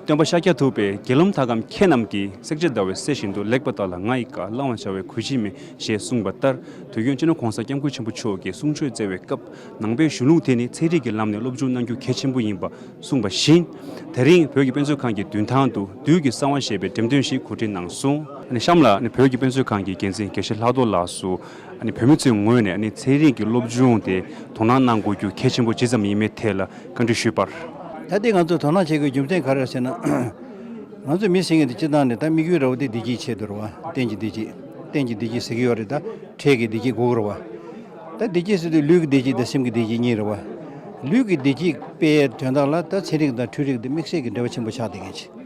སྟོན་པ་ཤཱཀྱ་ཐུབ་པས་དགེ་སློང་དག་གམ་ཁྱེད་རྣམས་ཀྱིས་བསྲེག་བྱེད་ཟླ་བའི་གསེར་བཞིན་དུ་ལེགས་པ་དག་ལ་ང་ཡི་བཀའ་བླང་བར་བྱ་བའི་གོས་བྱིན་མེ་ཞེས་གསུངས་པ་ལྟར་དུ་ཡོན་ཅི་ནུས་གོང་ས་སྐྱབས་མགོན་ཆེན་པོ་མཆོག་གིས་གསུང་ཆོས་སྩལ་བའི་སྐབས་ནང་པའི་གཞུང་ལུགས་དེ་ནི་ཚན་རིག་གི་ལམ་ནས་སློབ་སྦྱོང་གནང་རྒྱུ་གལ་ཆེན་པོ་ཡིན་པ་གསུངས་པ་བཞིན། དེ་རིང་བོད་ཀྱི་དཔེ་མཛོད་ཁང་གི་མདུན་ཐང་དུ་བདུད་ཀྱི་གསང་བ་ཞེས་པའི་འགྲེམས་སྟོན་ཞིག་གོ་སྒྲིག་གནང་སོང། གཤམ་ལ་བོད་ཀྱི་དཔེ་མཛོད་ཁང་གི་འགན་འཛིན་དགེ་བཤེས་ལྷག་རྡོར་ལགས་སུ་བུད་མེད་ཚོའི་ངོས་ནས་ཚན་རིག་གི་སློབ་སྦྱོང་དེ་དོ་སྣང་གནང་དགོས་རྒྱུ་གལ་ཆེན་པོ་ཇི་ཙམ་ཡིན་མིན་ཐད་ལ་བཀའ་འདྲི་ཞུས་པར། ད་ལྟའི་ང་ཚོས་དོ་སྣང་བྱེད་དགོས་རྒྱུ་མཚན་ག་རེ་རེད་ཟེར་ན། ང་ཚོས་མི་ཟེར་མཁན་དེ་སྤྱི་བཏང་ནས་ད་དམིགས་ཡུལ་ར་བ་དེ་བདེ་སྐྱིད་ཆེད་དུ་རེད་བ། གཏན་གྱི་བདེ་སྐྱིད། གཏན་གྱི་བདེ་སྐྱིད་ཟེར་གྱི་ཡོད་རེད་ད། འཕྲལ་གྱི་བདེ་སྐྱིད་དགུ་རེད་བ། ད་བདེ་སྐྱིད་ཟེར་དུས་ལུས་ཀྱི་བདེ་སྐྱིད་དང་སེམས་ཀྱི་བདེ་སྐྱིད་གཉིས་རེད་བ། ལུས་ཀྱི་བདེ་སྐྱིད་དཔེ་ཡའི་དོན་དག་ལ་ད་ཚན་རིག་དང་འཕྲུལ་རིག་དེ་དམིགས་བསལ་གྱི་འབྲེལ་བ་ཆེན་པོ་ཆགས་བསྡད་མཁན་ཆེ།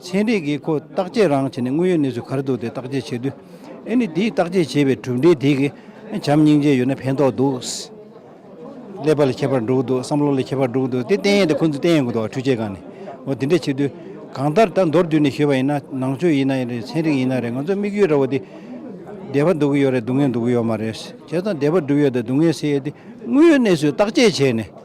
ཚན་རིག་གིས་ཁོ་བརྟག་དཔྱད་རང་བྱས་ནས་དངོས་ཡོད་གནས་ཚུལ་ག་རེ་འདུག་དེ་བརྟག་དཔྱད་བྱས་དུས། ཨེ་ནི་དེའི་བརྟག་དཔྱད་བྱས་པའི་གྲུབ་འབྲས་དེ་གིས་བྱམས་སྙིང་རྗེ་ཡོད་ན་ཕན་ཐོགས་འདུག། ཀླད་པ་ལས་ཁྱད་པར་འགྲོ་གི་འདུག་བསམ་བློ་ལས་ཁྱད་པར་འགྲོ་གི་འདུག་དེ་བསྟན་ཡས་དེ་ཁོ་ཚོས་བསྟན་ཡས་གོ་འདུག་འཕྲུལ་ཆས་གང་ནས། འོ་དེ་འདྲས་བྱེད་དུས། གང་ལྟར་ད་མདོར་བསྡུས་ནས་ཞུས་པ་ཡིན་ན་ནང་ཆོས་ཡིན་ན་རེད་ཚན་རིག་ཡིན་ན་རེད་ང་ཚོ་དམིགས་ཡུལ་འདྲ་བོ་དེ། བདེ་བ་འདུག་གི་ཡོད་རེད་སྡུག་བསྔལ་འདུག་གི་ཡོད་མ་རེད། བྱས་ཙང་བདེ་བ་འགྲུབ་ཡོད་དང་སྡུག་བསྔལ་སེལ་ཡོད་དེ་དངོས་ཡོད་གནས་ཚུལ་བརྟག་དཔྱད་བྱས་ནས།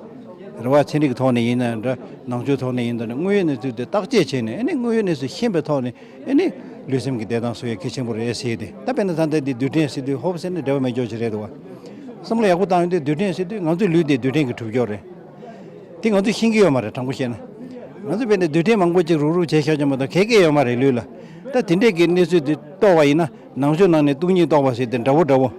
རེ་བ་ཚན་རིག་གི་ཐོག་ནས་ཡིན་ནའི་འདྲ་ནང་ཆོས་ཐོག་ནས་ཡིན་འདྲ་ནི་དངོས་ཡོད་གནས་ཚུལ་དེ་བརྟག་དཔྱད་བྱས་ནས་ནི་དངོས་ཡོད་གནས་ཚུལ་ཤེས་པའི་ཐོག་ནས་ནི་ལུས་སེམས་ཀྱི་བདེ་ཐང་སུ་ཡང་གལ་ཆེན་པོ་རེད་ཟེར་ཏེ་ད་དཔེར་ན་ད་ལྟའི་འདི་རྡུལ་ཕྲན་སྲིད་དུས་ཧོབ་སེ་ནི་འབྲེལ་བ་མེད་འཇོག་བྱེད་རེད་འདུག་བསམ་བློ་ཡག་པོ་བཏང་ཡོང་དུས་རྡུལ་ཕྲན་སྲིད་དུས་ང་ཚོའི་ལུས་དེ་རྡུལ་ཕྲན་གྱི་གྲུབ་ཕྱོགས་རེད་དེ་ང་ཚོས་ཤེས་ཀྱི་ཡོད་མ་རེད་དྲང་པོ་བཤད་ན་ང་ཚོས་དཔེར་ན་རྡུལ་ཕྲན་མང་པོ་གཅིག་རུག་རུག་བྱས་ཤག་བྱས་མ་གཏོགས་གལ་གལ་ཡོད་མ་རེད་ལུས་ལ་ད་དེ་འདྲས་ཀྱི་གནས་ཚུལ་དེ་རྟོགས་པ་ཡིན་ན་ནང་ཆོས་ནང་ནས་སྟུག་ཉིད་རྟོགས་པ་ཟེར་དེ་འདྲ་བོ་འདྲ་བོ་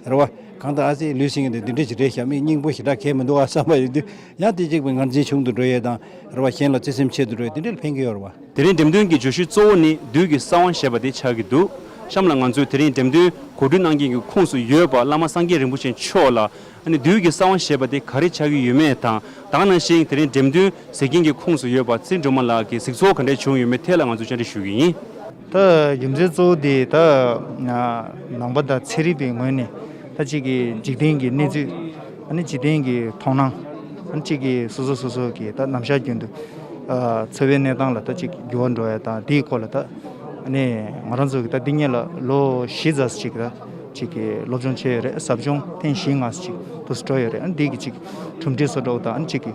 རེད་བ། གང་ལྟར་ཨ་ཙི་ལུས་ཟིན་ནས་འདི་འདྲའི་ཞི་བདེའི་ཞབས་མིག་སྙིང་པོ་ཞེ་དྲག་གས་མི་འདུག་ཨ་བསམ་པ་ཡིན་དུས་ཡང་དེ་གཅིག་པུས་ངར་འཛིན་ཆུང་དུ་འགྲོ་ཡས་དང་རེ་བ་གཞན་ལ་བརྩེ་སེམས་ཆེད་དུ་འགྲོ་ཡས་དེ་འདྲའི་ལ་ཕན་གི་ཡོད་རེད་བ། དེ་རིང་འགྲེམས་སྟོན་གྱི་བརྗོད་གཞི་གཙོ་བོ་ནི་བདུད་ཀྱི་ས་དབང་ཞེས་པ་དེ་ཆགས་ཀྱི་འདུག་གཤམ་ལ་ང་ཚོས་དེ་རིང་འགྲེམས་སྟོན་གོ་སྒྲིག་གནང་མཁན་གྱི་ཁུངས་སུ་ཡོད་པ་བླ་མ་སངས་རྒྱས་རིན་པོ་ཆེ་མཆོག་ལ་ཨ་ནི་བདུད་ཀྱི་ས་དབང་ཞེས་པ་དེ་ག་རེ་ཆགས་ཀྱི་ཡོད་མེད་དང་དག་ན་ཞིང་དེ་རིང་འགྲེམས་སྟོན་ཟེར་མཁན་གྱི་ཁུངས་སུ་ཡོད་པ་ཙིར་སྒྲོལ་མ་ལགས་ཀྱི་གཟིགས་ཚོགས་ག་འདྲས་བྱུང་ཡོད་མེད་ཐད་ལ་ང་ཚོས་བཅར་འདྲི་ཞུ་གི་ཡིན། ད་རྒྱུ་མཚན་གཙོ་བོ་དེ་ད་ནང་པ་དང་ཚན་རིག་པའི་ངོས་ནས་ད་གཅིག་གི་འཇིག་རྟེན་གྱི་གནས་ཚུལ། ཨ་ནི་འཇིག་རྟེན་གྱི་མཐོང་སྣང། ཨ་ནི་གཅིག་གི་སོ་སོ་སོ་སོ་གི་ད་ནམ་ཞར་རྒྱུན་དུ་འཚོ་བའི་གནས་སྟངས་ལ་ད་གཅིག་འགྱུར་བ་འགྲོ་བ་དང་དེའི་སྐོར་ལ་ད་ནི་ང་རང་ཚོ་གི་ད་འདི་གཉིས་ལ་ལོ་བཞི་རྩ་གཅིག་ད་གཅིག་གི་སློབ་སྦྱོང་བྱས་ཡོད་རེད་ཟབ་སྦྱོང་ཐེངས་བཞི་ལྔ་གཅིག་ཏུ་འགྲོ་ཡོད་རེད་ཨ་ནི་འདིའི་གཅིག་གི་གྲུབ་འབྲས་སོ་སྒྲོག་དང་ཨ་ནི་གཅིག་གི།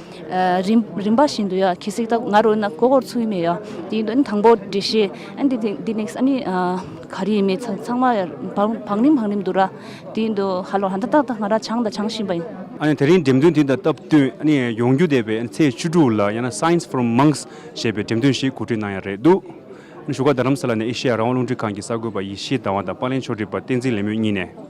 རིམ་པ་བཞིན་དུ་ཡོད་ཁྱི་སིག་དག་ང་རོ་ན་ཀོ་ཀོར་ཚུལ་མེད་ཡོད་དེའི་དོན་དང་པོ་འདྲི་ཤེས་ཨན་དེ་དེ་ནེགས་ཨ་ནི་ག་རེ་ཡིན་མེད་ཚང་མ་བང་རིམ་བང་རིམ་འདུག་ར་དེའི་འདུག་ཧ་ལོ་ཧ་ད་ད་ད་ང་ར་ཆང་དང་ཆང་བཞིན་པ་ཡིན། ཨ་ནི་དེ་རིང་འགྲེམས་སྟོན་དེ་དང་སྟབས་བསྟུན་ཨ་ནི་ཡོང་རྒྱུ་འདས་པའི་ཚེས་བཅུ་དྲུག་ལ་ཡང་ན Science from Monks ཞེས་པའི་འགྲེམས་སྟོན་ཞིག་གོ་སྒྲིག་གནང་ཡ་རེད་འདུག་ཨ་ནི་བཞུགས་སྒར་རྡ་རམ་ས་ལ་ནས་ཨེ་ཤེ་ཡ་རང་དབང་རླུང་འཕྲིན་ཁང་གི་གསར་འགོད་པ་ཡེ་ཤེས་ཟླ་བ་དང་པཱ་ལེན་ཆོས་སྒྲིབ་པ་བསྟན་འཛིན་ལེགས་སྨོན་གཉིས་ནས།